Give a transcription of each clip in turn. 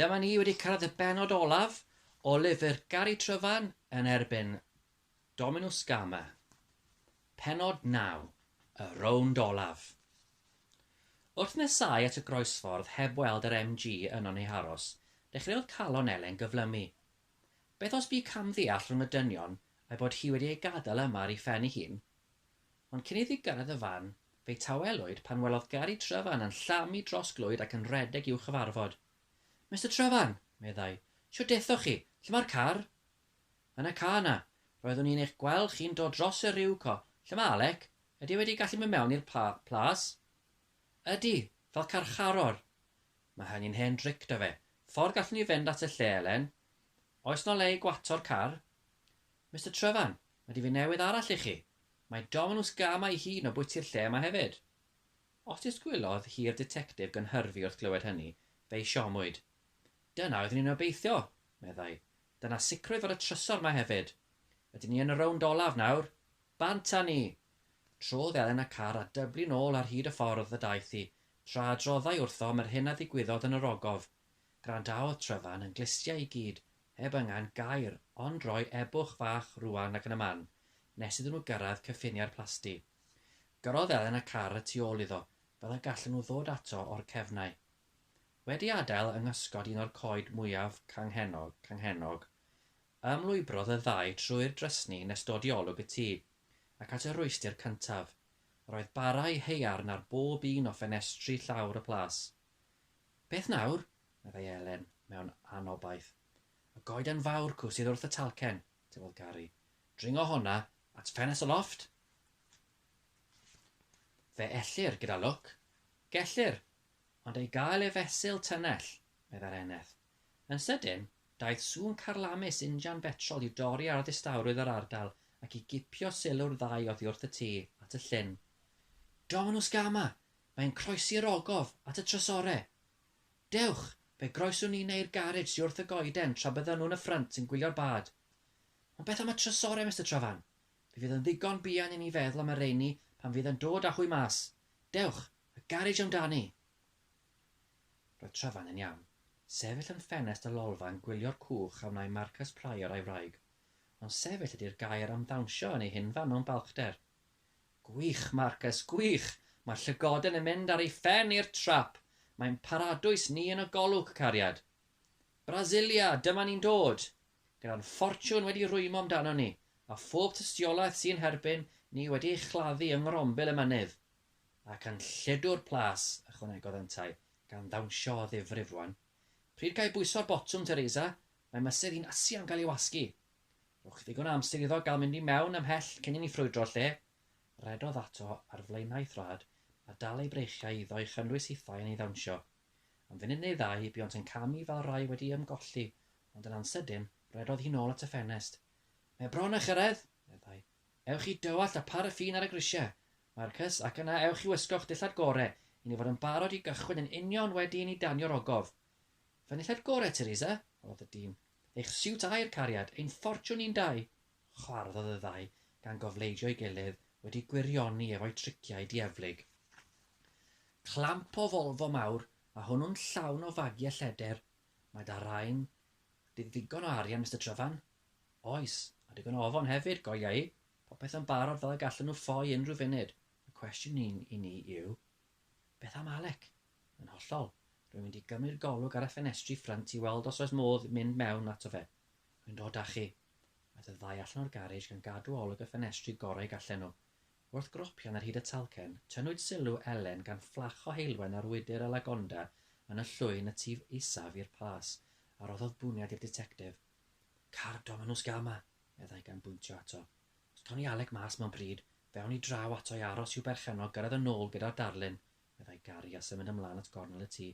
Dyma ni wedi cyrraedd y bennod olaf o lyfr Gari Tryfan yn erbyn Dominw Scama. Pennod 9, y rownd olaf. Wrth nesáu at y groesffordd heb weld yr MG yno neu aros, dechreuodd calon Elen gyflymu. Beth os bu camddeall rhwng y dynion a'i bod hi wedi ei gadael yma ar ei phen ei hun? Ond cyn iddi gyrraedd y fan, fe'i tawelwyd pan welodd Gari Tryfan yn llamu dros glwyd ac yn rhedeg i'w chyfarfod. Mister Tryfan! meddai. Shwt dethoch chi? Lle mae'r car? Yn y car 'na. Roeddwn i'n eich gweld chi'n dod dros y rhiw co. Lle mae Alec? Ydy e wedi gallu mynd mewn i'r plas? Ydy, fel carcharor. Mae hynny'n hen dric 'da fe. Ffordd gallwn ni fynd at y lle, Elen? Oes 'na le i gwatsho'r car? Mister Tryfan, mae difyn newydd arall i chi. Mae Dominws Gama ei hun o bwyty'r lle yma hefyd. Os disgwylodd hi'r ditectif gynhyrfu wrth glywed hynny, fe'i siomwyd. Dyna oeddwn i'n obeithio, meddai. Dyna sicrwydd fod y trysor 'ma hefyd. Ydyn ni yn y rownd olaf nawr? Bant â ni! Trodd Elen y car a dyblu'n ôl ar hyd y ffordd y daeth hi, tra adroddai wrthom yr hyn a ddigwyddodd yn yr ogof. Gwrandaodd Tryfan yn glustiau i gyd, heb angen gair, ond rhoi ebwch fach rŵan ac yn y man, nes iddyn nhw gyrraedd cyffiniau'r plasty. Gyrrodd Elen y car y tu ôl iddo, fel y gallen nhw ddod ato o'r cefnau. Wedi adael yng nghysgod un o'r coed mwyaf canghennog, canghennog, ymlwybrodd y ddau trwy'r drysni nes dod i olwg y tŷ, ac at y rhwystr cyntaf. Yr oedd bara i haearn ar bob un o ffenestri llawr y plas. Beth nawr? meddai Elen, mewn anobaith. Y goeden fawr cw sydd wrth y talcen, tybiodd Gary. Dringo honna at ffenest y lofft? Fe ellir, gyda lwc. Gellir, ond ei gael e fesul tynnell, meddai'r eneth. Yn sydyn, daeth sŵn carlamus injan betrol i'w dorri ar ddistawrwydd yr ardal ac i gipio sylw'r ddau oddi wrth y tŷ, at y llyn. Dominws gama! Mae'n croesi'r ogof at y trysore. Dewch, fe groeswn ni neu'r garej sy wrth y goeden tra byddan nhw'n y ffrynt yn gwylio'r bad. Ond beth am y trysore, Mister Travan? Fe fydd yn ddigon buan i ni feddwl am y rheiny pan fydd yn dod â hwy mas. Dewch, y garej amdani! Roedd Travan yn iawn. Sefyll yn ffenest y lolfa yn gwylio'r cwch a wnai Marcus Prior a'i wraig. Ond sefyll ydy'r gair am ddawnsio yn ei hunfan mewn balchder. Gwych Marcus, gwych! Mae'r llygoden yn mynd ar ei phen i'r trap! Mae'n paradwys ni yn y golwg, cariad! Brasilia, dyma ni'n dod! Gyda'n ffortiwn wedi rwymo amdanon ni, a phob tystiolaeth sy'n herbyn ni wedi ei chladdu yng ngrombil y mynydd. Ac yn lledu'r plas, ychwanegodd yntau, gan ddawnsio o ddifrif rwan. Pryd ga i bwyso'r botwm, Teresa? Mae mysedd i'n Asia'n cael ei wasgu! Rhowch ddigon o amser iddo gael mynd i mewn ymhell cyn i ni ffrwydro'r lle, rhedodd ato ar flaenau thrad a dal ei breichiau iddo i chynnwys hithau yn ei ddawnsio. Am funud neu ddau buont yn camu fel rhai wedi ymgolli, ond yn ansydyn, rhedodd hi'n ôl at y ffenest. Mae bron â chyrraedd! meddai. Ewch i dywallt a pharaffin ar y grisiau, Marcus, ac yna ewch i wisgo'ch dillad gore i ni fod yn barod i gychwyn yn union wedi i ni danio'r ogof. Fy nillad gore, Teresa? holodd y dyn. Eich siwt aer cariad, ein ffortiwn ni'n dau! chwarddodd y ddau, gan gofleidio'i gilydd, wedi gwirioni efo'u triciau dieflig. Clamp o Volvo mawr, a hwnnw'n llawn o fagiau lleder, Mae 'da rain di ddigon o arian, Mister Tryfan? Oes, a digon o ofon hefyd, golyga i. Popeth yn barod fel y gallen nhw ffoi unrhyw funud. Y cwestiwn i ni yw, Beth am Alec? Yn hollol. Rwy'n mynd i gymryd golwg ar y ffenestri ffrynt i weld os oes modd mynd mewn ato fe. Rwy'n dod â chi. Aeth y ddau allan o'r garej gan gadw olwg y ffenestri gorau gallen nhw. Wrth gropian ar hyd y talcen, tynnwyd sylw Elen gan fflach o heulwen ar wydr y lagonda yn y llwyn y tu isaf i'r plas, a roddodd bwniad i'r ditectif. Car Dominws Gama! meddai gan bwyntio ato. Os cawn ni Alec mas mewn pryd, fe awn ni draw ato i aros i'w berchennog gyrraedd yn ôl gyda'r darlun, meddai Gary a symud ymlaen at gornel y tŷ.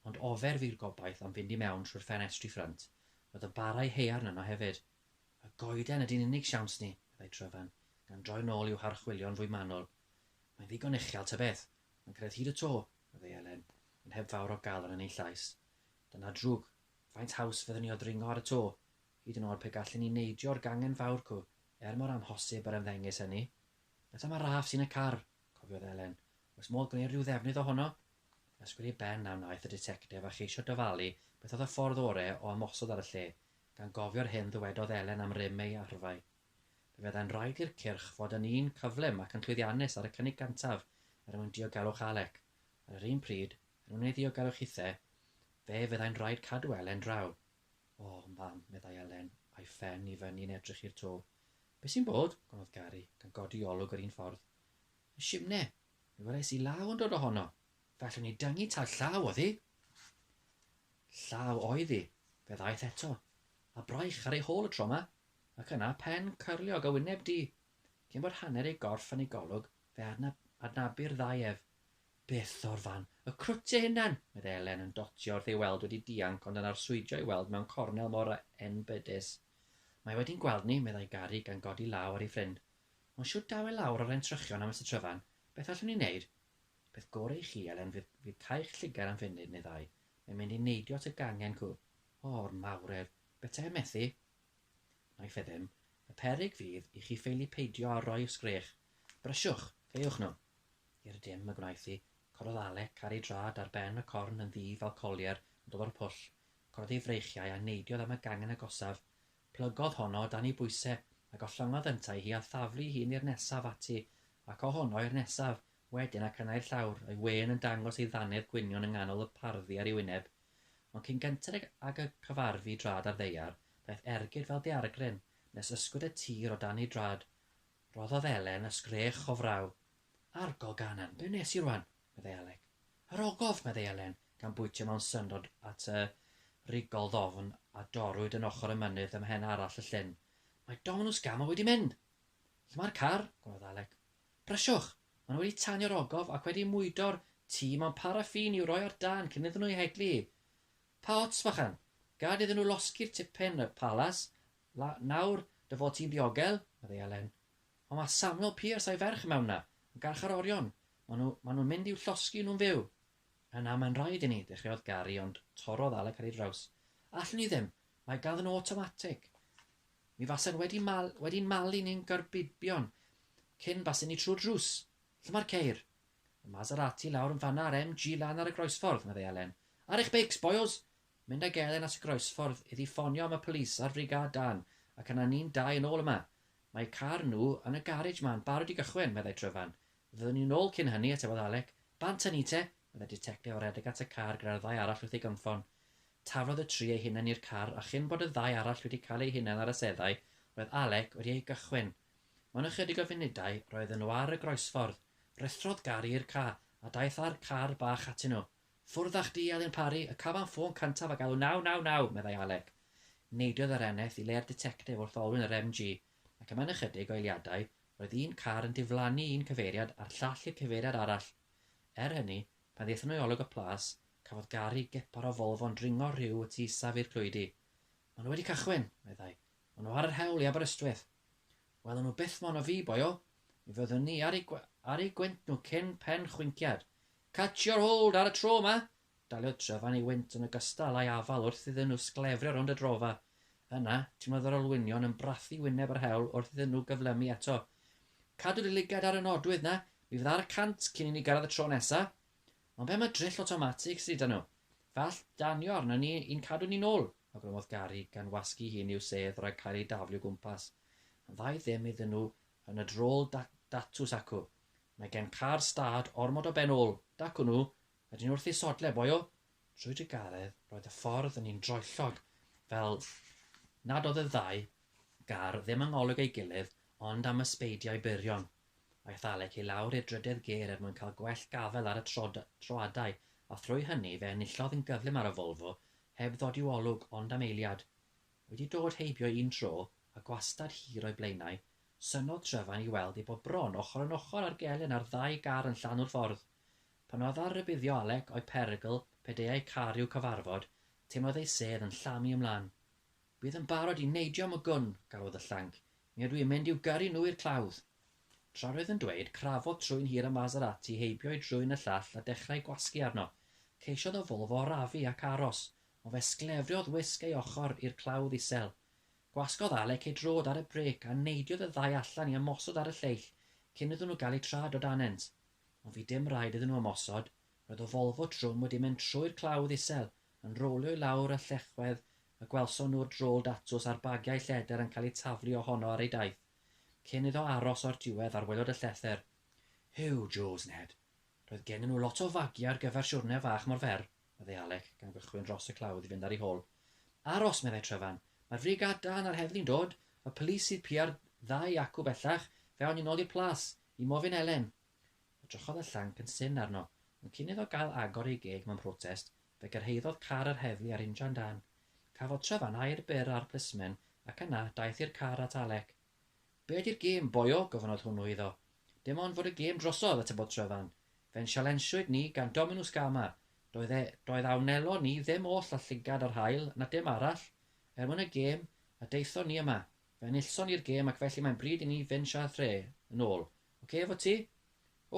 Ond ofer fu'r gobaith am fynd i mewn trwy'r ffenestri ffrynt. Roedd y barau haearn yno hefyd. Y goeden ydi'n unig siawns ni, meddai Tryfan, gan droi'n ôl i'w harchwilio'n fwy manwl. Mae'n ddigon uchel tybeth. Mae'n cyrraedd hyd y to, meddai Elen, ond heb fawr o galon yn ei llais. Dyna drwg. Faint haws fydden ni o ddringo ar y to? Hyd yn oed pe gallwn ni neidio'r gangen fawr cw, er mor amhosib yr ymddengys hynny. Eto mae Raff sy'n y car, cofiodd Elen. Oes modd gwneud rhyw ddefnydd ohono? Ysgwyd ei ben a wnaeth y ditectif a cheisio dyfalu beth oedd y ffordd ore o ymosod ar y lle, gan gofio'r hyn ddywedodd Elen am rym ei arfau. Fe fyddai'n rhaid i'r cyrch fod yn un cyflym ac yn llwyddiannus ar y cynnig gyntaf er mwyn diogelwch Alec. Ar yr un pryd, er mwyn ei ddiogelwch hithe, fe fyddai'n rhaid cadw Elen draw. O, mam, meddai Elen, a'i phen i fyny'n edrych i'r to. Be sy'n bod? gonodd Gary, gan godi olwg yr un ffordd. Y simne! Mi wres i law yn dod ohono. Fe allwn ni dyngu tal llaw oddi. Llaw oedd hi, fe ddaeth eto, a braich ar ei hôl y tro yma, ac yna pen cyrliog a wyneb du. Cyn bod hanner ei gorff yn ei golwg, fe adnabu'r ddau ef. Beth o'r fan? Y crwt ei hunan! meddai Elen yn dotio wrth ei weld wedi dianc ond yn arswydio i weld mewn cornel mor enbydus. Mae wedi'n gweld ni, meddai Gari gan godi law ar ei ffrind. Ond shwt daw e lawr o'r entrychion am Mister Tryfan? Beth allwn ni wneud? Peth gore i chi, Elen, fydd, fydd cael 'ch llygad am funud neu ddau. Mae'n mynd i neidio at y gangen cw. O'r mawredd! Betaem methu? Nai fe ddim. Y peryg fydd i chi ffeili peidio â rhoi 'ych sgrech. Brysiwch! Caewch nhw! I'r dim y gwnaeth hi. Cododd Alec ar ei drad ar ben y corn yn ddu fel colier yn dod o'r pwll. Cododd ei freichiau a neidiodd am y gangen agosaf. Plygodd honno o dan ei bwyse, a gollyngodd yntau hi a thaflu hi ni'r nesaf ati, ac o honno i'r nesaf, wedyn ac yna i'r llawr, ei wên yn dangos ei ddannedd gwynion yng nghanol y parddu ar ei wyneb. Ond cyn gynted ag y cyfarfu i drad ar ddaear, daeth ergyd fel daeargryn, nes ysgwyd y tir o dan ei drad, Rhoddodd Elen ysgrech o fraw. Argo Ganan, be wnes i rwan? meddai Alec. Yr ogof! meddai Elen, gan bwytio mewn syndod at y rigol ddofn a dorrwyd yn ochr y mynydd ym mhen arall y llyn. Mae Dominws Gama wedi mynd! Lle mae'r car? gwnnodd Alec. Brysiwch! Mae nhw wedi tanio'r ogof ac wedi mwydo'r tŷ mewn paraffin i'w roi ar dân cyn iddyn nhw ei heglu hi. Pa ots, fachan! Gad iddyn nhw losgi'r tipyn, y palas, La, nawr dy fod ti'n ddiogel, meddai Elen. Ond mae Samuel Pierce a'i ferch i mewn 'na, yn garchar orion. Maen nhw, maen nhw'n mynd i'w llosgi nhw'n fyw. Na, na, mae'n rhaid i ni, dechreuodd Gary ond torrodd Alec ar ei draws. Allwn ni ddim, mae ganddyn nhw awtomatig. Mi fasen wedi mal, wedi'n malu ni'n garbibion cyn basen ni trwy'r drws. Lle mae'r ceir? Y Maserati lawr yn fanna a'r MG lan ar y groesffordd, meddai Elen. Ar eich beics, boyos! Mynd ag Elen at y groesffordd iddi ffonio am y police a'r frigâd dân, ac yna ni'n dau yn ôl yma. Mae eu car nhw yn y garej 'ma'n barod i gychwyn, meddai Tryfan. Fyddwn ni'n ôl cyn hynny, atebodd Alec. Bant â ni te! meddai'r ditectif a redeg at y car gyda'r ddau arall wrth ei gynffon. Taflodd y tri eu hunain i'r car a chyn bod y ddau arall wedi cael eu hunain ar y seddau, roedd Alec wedi ei gychwyn. Mewn ychydig o funudau, roedden nhw ar y groesffordd. Rhuthrodd Gary i'r car a daeth â'r car bach atyn nhw. Ffwrddach di, Elin Parry, y cafam ffôn cyntaf a galw 999, meddai Alec. Neidiodd yr eneth i le'r ditectif wrth olwyn yr MG, ac am ynychydig o eiliadau, roedd un car yn diflannu un cyfeiriad a'r llall i'r cyfeiriad arall. Er hynny, pan ddaethon nhw i olwg y plas, cafodd gari gepar o Volvo'n dringo rhyw y tu isaf i'r clwydi. Maen nhw wedi cychwyn, meddai. Maen nhw ar yr hewl i Aberystwyth. Welwn nhw byth mono fi, boyo. Mi fyddwn ni ar eu, ar eu gwynt nhw cyn pen chwinciad. Catch your hold ar y tro 'ma! Daliodd Trevan ei wynt yn ogystal â'i afal wrth iddyn nhw sglefrio rownd y drofa. Yna, tynnodd yr olwynion yn brathu wyneb yr hewl wrth iddyn nhw gyflymu eto. Cadw dy lygad ar y nodwydd 'na, mi fydda ar y cant cyn i ni gyrraedd y tro nesa! Ond be' am y drill awtomatig sy' 'da nhw? Fe all danio arnon ni i'n cadw ni'n ôl! awgrymodd Gary gan wasgu hi'n i'w sedd rhag cael ei daflu o gwmpas. Yn dda i ddim iddyn nhw yn y drôl da- datws acw. Mae gen car stad ormod o ben ôl, dacw nhw, a dyn wrth ei sodle, boi o! Trwy drugaredd, roedd y ffordd yn un droellog, fel nad oedd y ddau gar ddim yng ngolwg ei gilydd ond am ysbeidiau byrion. Aeth Alec i lawr i'r drydedd gêr er mwyn cael gwell gafael ar y troadau, a thrwy hynny fe enillodd yn gyflym ar y Volvo, heb ddod i'w olwg ond am eiliad. Wedi dod heibio un tro, a gwastad hir o'i blaenau, synnodd Trefain i weld eu bod bron ochr yn ochr ar gelyn ar ddau gar yn llanw'r ffordd. Pan oedd ar rybuddio Alec o'i perygl pe deuai car i'w cyfarfod, teimlodd ei sedd yn llamu ymlan. Bydd yn barod i neidio am y gwn, galwodd y llanc, mi ydw i'n mynd i'w gyrru nhw i'r clawdd! Tra roedd yn dweud, crafodd trwyn hir y Maserati heibio'i drwyn y llall a dechrau gwasgu arno. Ceisiodd y Volvo arafu ac aros, O fe sglefriodd wisg ei ochr i'r clawdd isel. Gwasgodd Alec ei drod ar y brêc a neidiodd y ddau allan i ymosod ar y lleill cyn iddyn nhw gael eu trad o danynt. Ond fu dim rhaid iddyn nhw ymosod, roedd y Volvo trwm wedi mynd trwy'r clawdd isel, yn rowlio i lawr y llechwedd y gwelson nhw'r drol datws a'r bagiau lleder yn cael eu taflu ohono ar ei daith, cyn iddo aros o'r diwedd ar waelod y llethr. Huw, Joes, Ned, roedd gennyn nhw lot o fagiau ar gyfer siwrne fach mor fer. meddai Alec, gan gychwyn dros y clawdd i fynd ar ei hôl. Aros, meddai Tryfan. Mae'r frigâd dân a'r heddlu'n dod. Y polis sydd piau'r ddau acw bellach, fe awn ni nôl i'r plas, i Mofyn Elen. Edrychodd y llanc yn syn arno, ond cyn iddo gael agor ei geg mewn protest, fe gyrhaeddodd car yr heddlu a'r injan dân. Cafodd Tryfan air byr ar plismen, ac yna, daeth i'r car at Alec. Be 'di'r gêm, boio? gofynnodd hwnnw iddo. Dim ond fod y gêm drosodd, atebodd Trevan. Fe'n sialensiwyd ni gan Dominws Gama. Doedd e, doedd a wnelon ni ddim oll â llygad yr haul na dim arall, er mwyn y gêm, a daethon ni yma. Fe enillson ni'r gêm ac felly mae'n bryd i ni fynd siât rhe, yn ôl. Ocê efo ti?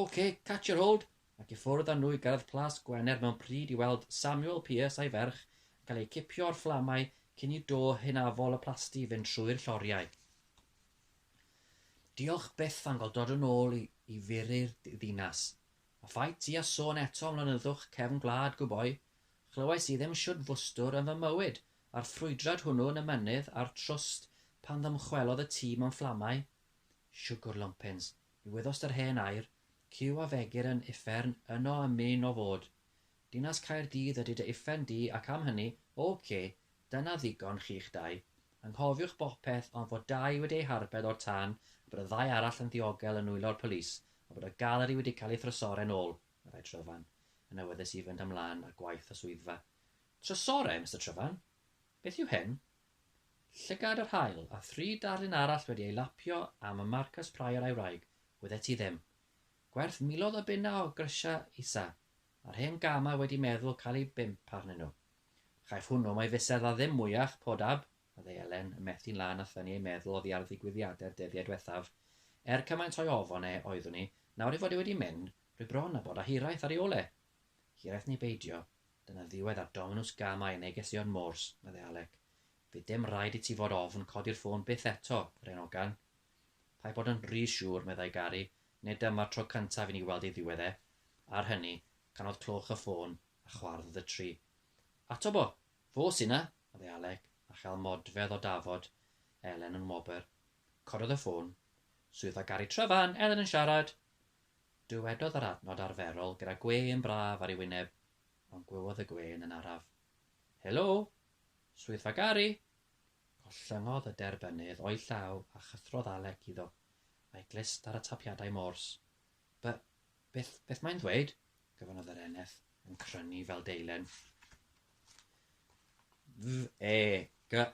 Ocê, catch your hold! Ac i ffwrdd â nhw i gyrraedd Plas Gwener mewn pryd i weld Samuel Pierce a'i ferch yn cael eu cipio o'r fflamau cyn i do hynafol y plasty fynd trwy'r lloriau. Diolch byth am gael dod yn ôl i, i furu'r ddinas. A fai ti a sôn eto am lonyddwch cefn gwlad, gwboi. Chlywais i ddim shwd fwstwr yn fy mywyd a'r ffrwydrad hwnnw yn y mynydd a'r trwst pan ddymchwelodd y tîm am fflamau. Siwgr lumpins. I wyddost yr hen air, cyw a fegir yn uffern yno a myn o fod. Dinas Caerdydd ydy dy uffern di ac am hynny, ok, dyna ddigon chi'ch dau. Anghofiwch bopeth ond fod dau wedi eu harbed o'r tân a bod y ddau arall yn ddiogel yn nwylo'r polis a bod y galeri wedi cael ei thrysoren ôl, meddai Tryfan, yn awyddus i fynd ymlan â gwaith y swyddfa. Trysoren, Mister Tryfan? Beth yw hyn? Llygad yr haul, a thri darlun arall wedi ei lapio am y Marcus Prior a'i wraig, wyddet ti ddim. Gwerth miloedd o bunna o grisiau isa, a'r hen gama wedi meddwl cael eu bump arnyn nhw. Chaiff hwnnw mai fusedd a ddim mwyach, poor dab, meddai Elen, yn methu'n lân a thynnu ei meddwl oddi ar ddigwyddiadau'r dyddiau diwethaf. Er cymaint o'i ofon e oeddwn i, nawr ei fod e wedi mynd, rwy bron â bod â hiraeth ar ei ôl e! Hiraeth neu beidio, dyna ddiwedd ar Dominws Gamau yn neges Ion Morse, meddai Alec. Fydd dim rhaid i ti fod ofn codi'r ffôn byth eto, yr hen ogan. Paid bod yn rhy siŵr, meddai Gary, nid dyma'r tro cyntaf i ni weld ei ddiwedd e. Ar hynny, canodd clwch y ffôn a chwardd y tri. Ato bo! Fo sy 'na! meddai Alec, a chael modfedd o dafod Elen yng ngwobr. Cododd y ffôn. Swyddfa Gary Tryfan, Elen yn siarad! Dywedodd yr adnod arferol gyda gwên braf ar ei wyneb, ond gwewodd y gwên yn araf. Helo! Swyddfa Gary! Collyngodd y derbynnydd o'i llaw a chythrodd Alec iddo, a'i glust ar y tapiadau mors. Be, beth, beth mae'n ddweud? gofynnodd yr eneth, yn crynu fel deilen. V-e-g-a-u-n,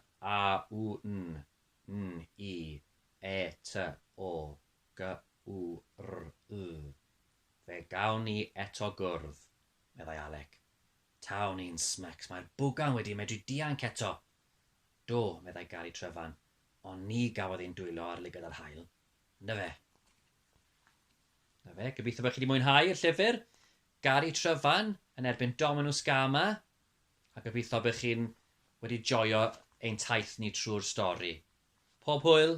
n-i, e-t-o, Gwrw. Fe gawn ni eto gwrdd, meddai Alec. Taw ni'n smecs, mae'r bwgan wedi medru dianc eto! Do, meddai Gary Tryfan, ond ni gafodd ein dwylo ar lygad yr haul. Na fe. Na fe, gobeithio bod chi wedi mwynhau y llyfr. Gary Tryfan yn erbyn Dominus Gama. a gobeithio bych chi'n wedi joio ein taith ni trwy'r stori. Pob hwyl!